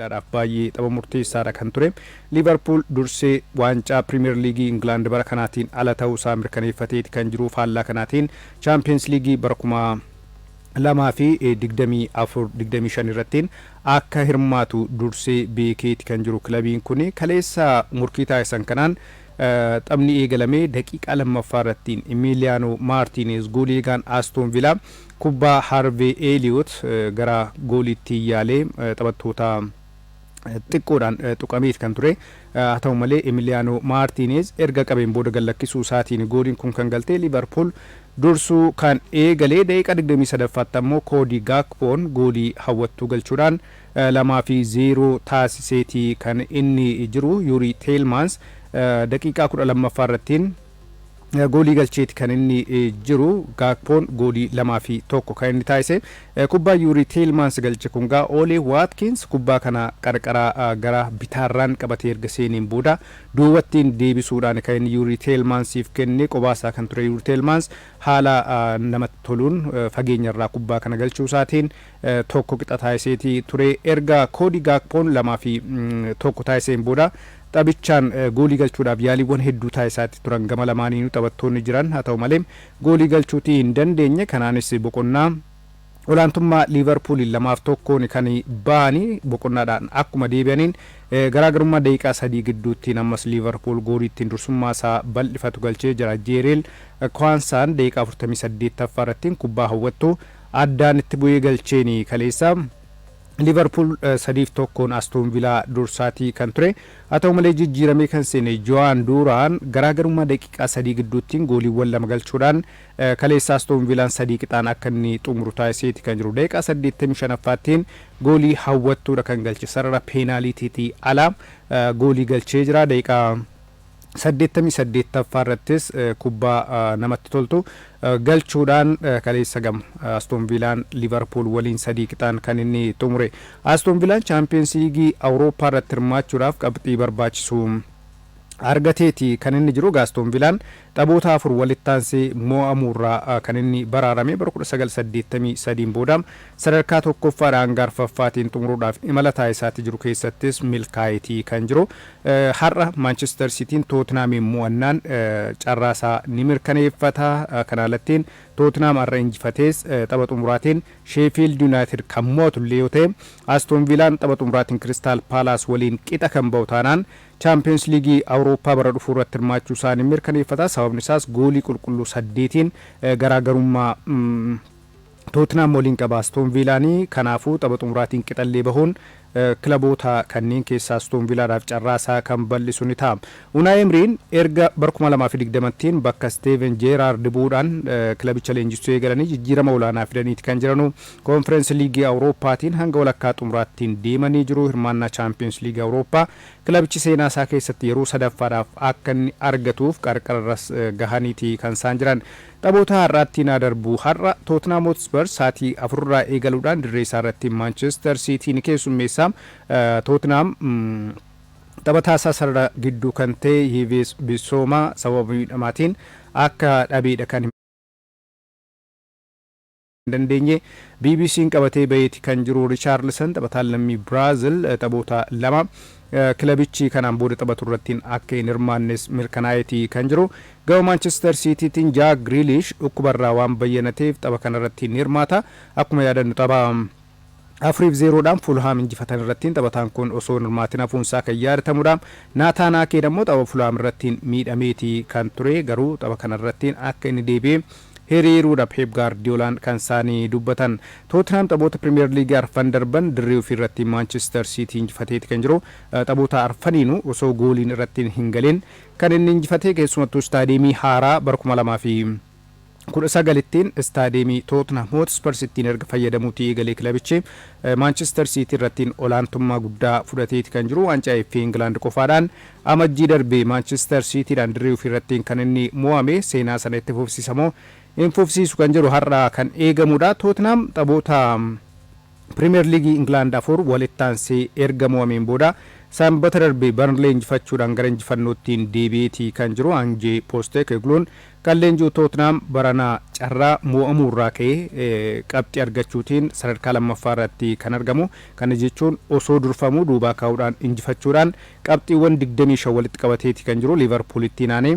Itoophiyaadhaaf baay'ee tapha murteessaadha kan ture. Liivarpuul dursee waancaa Piriimeer Liigii Ingilaand bara kanaatiin ala ta'uu isaa mirkaneeffateeti kan jiru. Faallaa kanaatiin Chaampiyeens Liigii bara 2024, 25 irrattiin akka hirmaatu dursee beekeeti kan jiru kilabiin kun. Kaleessa morkii taasisan kanaan taphni eegalamee daqiiqaa lammaffaa irrattiin Imiiliyaanoo Maartiineez goolii eegaan Astoon Vilaa Kubbaa Haarvee Eeliyoot gara gooliitti yaalee taphattoota xiqqoodhaan tuqameeti kan ture. Haa ta'u malee Emiliyaanoo Maartiineez erga qabeen booda gad lakkisuu isaatiin gooliin kun kan galte Liivarpuul dursuu kan eegale daqiiqaa digdamii sadaffaatti ammoo Koodii Gaakpoon goolii hawwattuu galchuudhaan lamaa fi zeeroo taasiseeti kan inni jiru. Yuurii Teelmaans daqiiqaa kudha lammaffaa irrattiin goolii galcheeti kan inni jiru. Gaakpoon goolii lamaa fi tokko kan inni taasise. Kubbaa Yuurii Teelmaans galche kun gaa Oolee Waatkiins kubbaa kana qarqara gara bitaarraan qabatee erga seeneen booda duubattiin deebisuudhaan kan inni Yuurii Teelmaansiif kenne qobaasaa kan ture Yuurii Teelmaans haala namatti toluun fageenyarraa kubbaa kana galchuusaatiin tokko qixa taasiseeti ture. Erga Koodi Gaakpoon 2 fi 1 taasiseen booda taphichaan goolii galchuudhaaf yaaliiwwan hedduu taasisaatti turan gama lamaaniinuu taphattoonni jiran haa ta'u malee goolii galchuutii hin dandeenye kanaanis boqonnaa olaantummaa Liivarpuuliin 2 fi 1n kan ba'ani boqonnaadhaan akkuma deebi'aniin garaagarummaa daqiiqaa sadii gidduuttiin ammas Liivarpuul goolii ittiin dursummaa isaa bal'ifatu galchee jira Jeereel Kwaansaan daqiiqaa 48ffaa irrattiin kubbaa hawwattu Addaan itti bu'ee galcheen kaleessa Liivarpuul 3 fi 1n Astoon Vilaa dursaatii kan ture. Haa ta'u malee jijjiiramee kan seene Jowaan Duuraan garaagarummaa daqiiqaa 3 gidduuttiin gooliiwwan lama galchuudhaan kaleessa Astoon Vilaan 3 qixaan akka inni xumuru taasiseeti kan jiru. Daqiiqaa 85ffaattiin goolii hawwattuudha kan galche. Sarara peenaaliitiitii ala goolii galchee jira. Daqiiqaa 88ffaa irrattis kubbaa namatti toltu galchuudhaan kaleessa gam Aston Viilaan Liivarpuul waliin sadii qixaan kan inni xumure. Aston Viilaan Chaampiyoonsi Liigii Awurooppaa irratti hirmaachuudhaaf qabxii barbaachisu argateeti kan inni jiru. Egaa Aston Viilaan taphoota afur walitti aansee mo'amuurraa kan inni baraarame bara 1983 booda sadarkaa tokkoffaadhaa hanga arfaffaatiin xumuruudhaaf imala taasisaatti jiru keessattis milkaa'eeti kan jiru. Har'a Maanchister Siitiin Tootinaamiin mo'annaan carraasaa ni mirkaneeffata. Kanaa alattiin Tootinaam har'a injifatees tapha xumuraatiin Sheefiild Yunaayitid kan mo'atullee yoo ta'e, Astoon Viilaan tapha xumuraatiin Kiristaal Paalaas waliin qixa kan ba'u taanaan Chaampiyoonsi Liigii Awurooppaa bara dhufuurratti hirmaachuusaa ni mirkaneeffata. Sababnisaas goolii qulqulluu saddeetiin garaagarummaa. Tootinaam waliin qaba Astoon Viilaan, kanaafuu tapha xumuraatiin qixallee bahuun kilaboota kanneen keessaa Astoon Viilaadhaaf carraa isaa kan bal'isu ni ta'a. Unaay Emriin erga bara 2020ttiin bakka Isteeven Jeeraardi bu'uudhaan kilabicha leenjissuu eegalanii jijjiirama olaanaa fidaniiti kan jiranu. Koonfireensi Liigii Awurooppaatiin hanga walakkaa xumuraattiin deemanii jiru. Hirmaannaa Chaampiyoonsi Liigii Awurooppaa kilabichi seenaa isaa keessatti yeroo sadaffaadhaaf akka inni argatuuf qarqararras gahaniiti kan isaan jiran. Taphoota har'aatti naa darbu Har'a Tootnaam Hootspar saatii 4 irraa eegaluudhaan dirree isaa irratti Maanchester Siitii ni keessummeessa. Tootnaam taphataa isaa sarara gidduu kan ta'e Yiiviis Bisoomaa sababa miidhamaatiin akka dhabeedha kan hime. hin dandeenye. BBC'n qabatee baheeti kan jiru Richaarlsan taphataan lammii Biraazil taphoota lama kilabichi kanaan booda taphaturrattiin akka hin hirmaannes mirkanaa'eeti kan jiru. Gama Maanchister Siitiitiin Jaak Giriiliish dhukkubarraa waan bayyanateef tapha kanarratti hin hirmaata. Akkuma yaadannu tapha. 4 fi 0 dhaan Fulhaam injifatan irrattiin taphataan kun osoo hin hirmaatin hafuun isaa kan yaadatamudha. Naataan Aakeen ammoo tapha Fulhaam irrattiin miidhameeti kan ture, garuu tapha kana irrattiin akka inni deebi'ee hiriiruudha Peep Gaardiyoolaan kan isaanii dubbatan. Tootinhaam taphoota Piriimiyeer Liigii arfan darban dirree ofii irrattiin Maanchister Siitii injifateeti kan jiru. Taphoota arfaniinuu osoo gooliin irrattiin hin galin kan inni injifate, keessumattuu istaadiyeemii haaraa bara 2000 fi. 19 ttiin istaadiyeemii Tootnhaam Hootspers ittiin erga fayyadamuutii eegalee kilabichi Maanchister Siitii irrattiin olaantummaa guddaa fudhateeti kan jiru. Waancaa FA Ingilaand qofaadhaan Amajjii darbe Maanchister Siitiidhaan dirree ofii irrattiin kan inni mo'ame. Seenaa sana itti fufsiisa moo hin fufsiisu kan jedhu har'a kan eegamuudha. Tootnhaam taphoota. Piriimeer Liigii Ingilaand afur walitti aansee erga mo'ameen booda Sanbata darbe Barnley injifachuudhaan gara injifannoottiin deebi'eeti kan jiru Ange Postecoglun kan leenji'u Tootinaam barana carraa mo'amuu irraa ka'ee qabxii argachuutiin sadarkaa lammaffaa irratti kan argamu. Kana jechuun osoo durfamuu duubaa kaa'uudhaan injifachuudhaan qabxiiwwan 25 walitti qabateeti kan jiru Liivarpuulittiin aanee.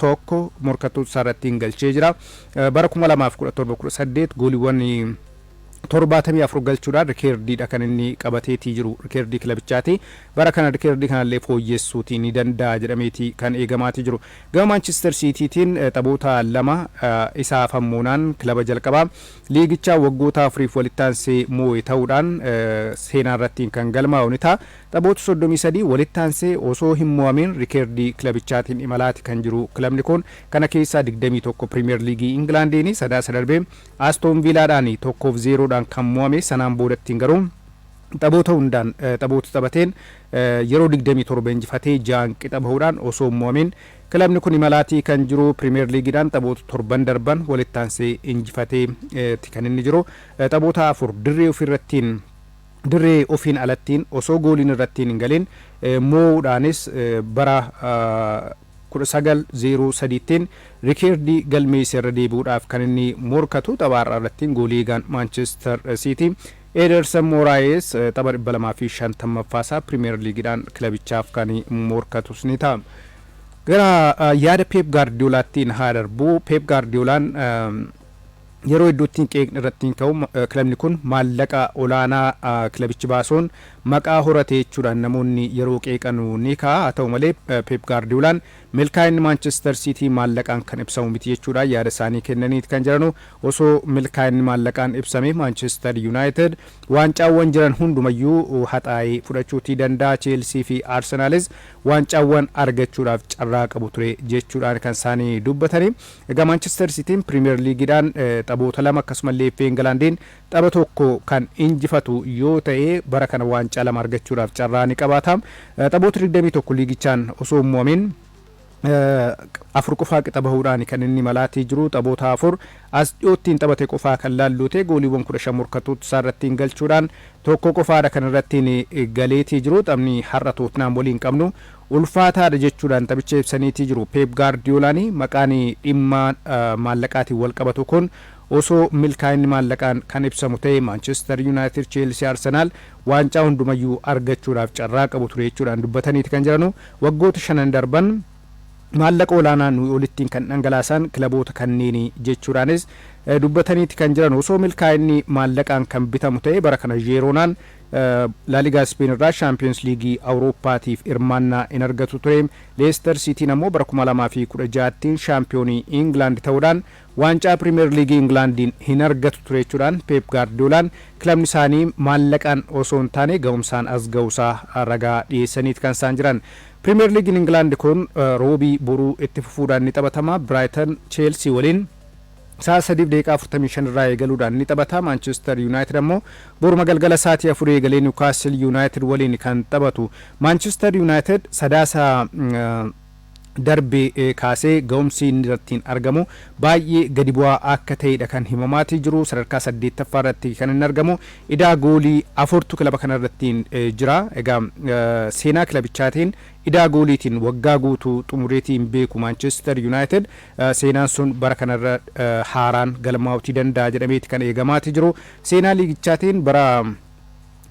tokko morkattoota isaa irrattiin galchee jira. Bara 2017 18 gooliiwwan 74 galchuudhaan rikeerdiidha kan inni qabateetii jiru rikeerdii kilabichaati. Bara kana rikeerdii kanallee fooyyessuutii ni danda'a jedhameeti kan eegamaatii jiru. Gama Maanchister Siitiitiin taphoota lama isa hafan moonaan kilaba jalqabaa liigichaa waggoota afuriif walitti aansee moo'e ta'uudhaan seenaa irrattiin kan galmaa'u ni ta'a. Taphoota soddomii sadii walitti aansee osoo hin mo'amiin rikeerdii kilabichaatiin imalaati kan jiru kilabni kun kana keessaa digdamii tokko Piriimiyeer Liigii Ingilaandiini. Sadaasa darbe Astoon Viilaadhaan tokkoo fi zeeroodhaan kan mo'ame. Sanaan boodattiin garuu taphoota hundaan taphoota taphateen yeroo digdamii torba injifatee ja'aan qixa bahuudhaan osoo hin mo'amiin kilabni kun imalaati kan jiru. Piriimiyeer Liigiidhaan taphoota torban darban walitti aansee injifatee ti kan inni jiru. Taphoota afur dirree ofiirrattiin. Dirree ofiin alattiin osoo gooliin irrattiin hin galin moo'uudhaanis bara 19 0 3 ttiin rikeerdii galmeesse irra deebi'uudhaaf kan inni morkatu. Tapha har'aa irrattiin goolii eegaan Maanchister Siitii Ederson Moraes tapha 250ffaa isaa Pirimeer Liigiidhaan kilabichaaf kan morkatus ni ta'a. Gara yaada Peep Gaardiyoolaattiin haa darbu. Peep Gaardiyoolaan Yeroo hedduutti qeeqni irratti ka'u kilabni kun maallaqa olaanaa kilabichi baasuun maqaa horate jechuudhaan namoonni yeroo qeeqanu ni ka'a. Haa ta'u malee Peep Gaardiyoolaan milkaa'inni Maanchister Siitii maallaqaan kan ibsamu miti jechuudhaan yaada isaanii kennaniiti kan jiranu. Osoo milkaa'inni maallaqaan ibsame Maanchister Yuunaayitid waancaawwan jiran hundumayyuu haxaa'ee fudhachuutii danda'a. Cheelsii fi Arsenaalis waancaawwan argachuudhaaf carraa qabu ture jechuudhaan kan isaanii dubbatani. Egaa Maanchister Siitiin Piriimiyer Liigiidhaan taphoota lama akkasumallee FA Ingilaandiin tapha tokko kan injifatu yoo ta'e bara kana waancaa lama argachuudhaaf carraa ni qabaata. Taphoota 21 liigichaan osoo hin mo'amin afur qofaa qixa bahuudhaan kan inni malaatii jiru taphoota afur as dhiyootti hin taphate qofaa kan laalluu ta'e gooliiwwan 15 morkattoota isaa irratti hin galchuudhaan tokko qofaadha kan irratti galeetii jiru taphni har'a Tootnaam waliin qabnu ulfaataadha jechuudhaan taphicha ibsaniitii jiru Peep Gaardiyolaan. Maqaan dhimma maallaqaatiin walqabatu kun osoo milkaa'inni maallaqaan kan ibsamu ta'e Maanchester Yunaayitid, Cheelsii, Arsenaal waancaa hundumayyuu argachuudhaaf carraa qabu ture jechuudhaan dubbataniiti kan jiranu. Waggoota shanan darban maallaqa olaanaa nuyi olittiin kan dhangalaasaan kilaboota kanneeni jechuudhaanis dubbataniiti kan jiranu. Osoo milkaa'inni maallaqaan kan bitamu ta'e bara kana Jeeroonaan Laaligaa Ispeen irraa Shaampiyoonsi Liigii Awurooppaatiif hirmaannaa hin argatu ture. Leester Siitiin ammoo bara 2016tti shaampiyoonii Ingilaand ta'uudhaan waancaa Piriimeer Liigii Ingilaandiin hin argatu ture jechuudhaan Peep Gaardiyoolaan kilabni isaanii maallaqaan osoo hin taane gahumsaan as gahuusaa ragaa dhiyeessaniiti kan isaan jiran. Piriimeer Liigiin Ingilaand kun Roobii boruu itti fufuudhaan ni taphatama. Biraayitan Cheelsii waliin. Sa'a 3:45 irraa eegaluudhaan ni taphata. Maanchister Yuunaayitid ammoo boruma galgala sa'aatii 4 eegalee Niwukaastil Yuunaayitid waliin kan taphatu. Maanchister Yuunaayitid Sadaasa darbe kaasee ga'umsi inni irrattiin argamu baay'ee gadi bu'aa akka ta'eedha kan himamaatii jiru. Sadarkaa 8ffaa irratti kan inni argamu. Idaa goolii afurtu kilaba kana irrattiin jira. Egaa seenaa kilabichaatiin idaa gooliitiin waggaa guutuu xumureetii hin beeku Maanchister Yuunaayitid. Seenaan sun bara kana irra haaraan galmaa'uutii danda'a jedhameeti kan eegamaati jiru. Seenaa liigichaatiin bara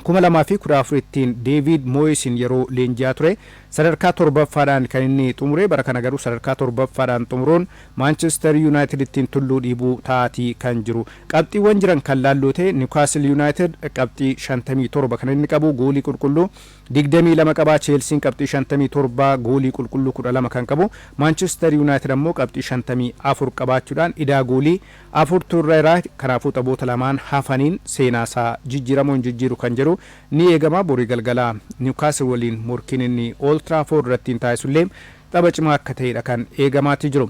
2014ttiin Deeviid Mooyisiin yeroo leenji'aa ture sadarkaa torbaffaadhaan kan inni xumure bara kana garuu sadarkaa torbaffaadhaan xumuruun Maanchister Yuunaayitidittiin tulluu dhiibuu ta'aatii kan jiru. Qabxiiwwan jiran kan laalluu ta'e Niwukaastil Yuunaayitid qabxii 57 kan inni qabu goolii qulqulluu 22 qaba. Cheelsiin qabxii 57 goolii qulqulluu 12 kan qabu Maanchister Yuunaayitid ammoo qabxii 54 qabaachuudhaan idaa goolii afurtu irra jira. Kanaafuu taphoota lamaan hafaniin seenaasaa jijjiiramoo hin jijjiiru kan jedhu ni eegama. Borii galgala Niwukaastil waliin morkiin inni Old Trafford irrattiin taasisullee tapha cimaa akka ta'edha kan eegamaatii jiru.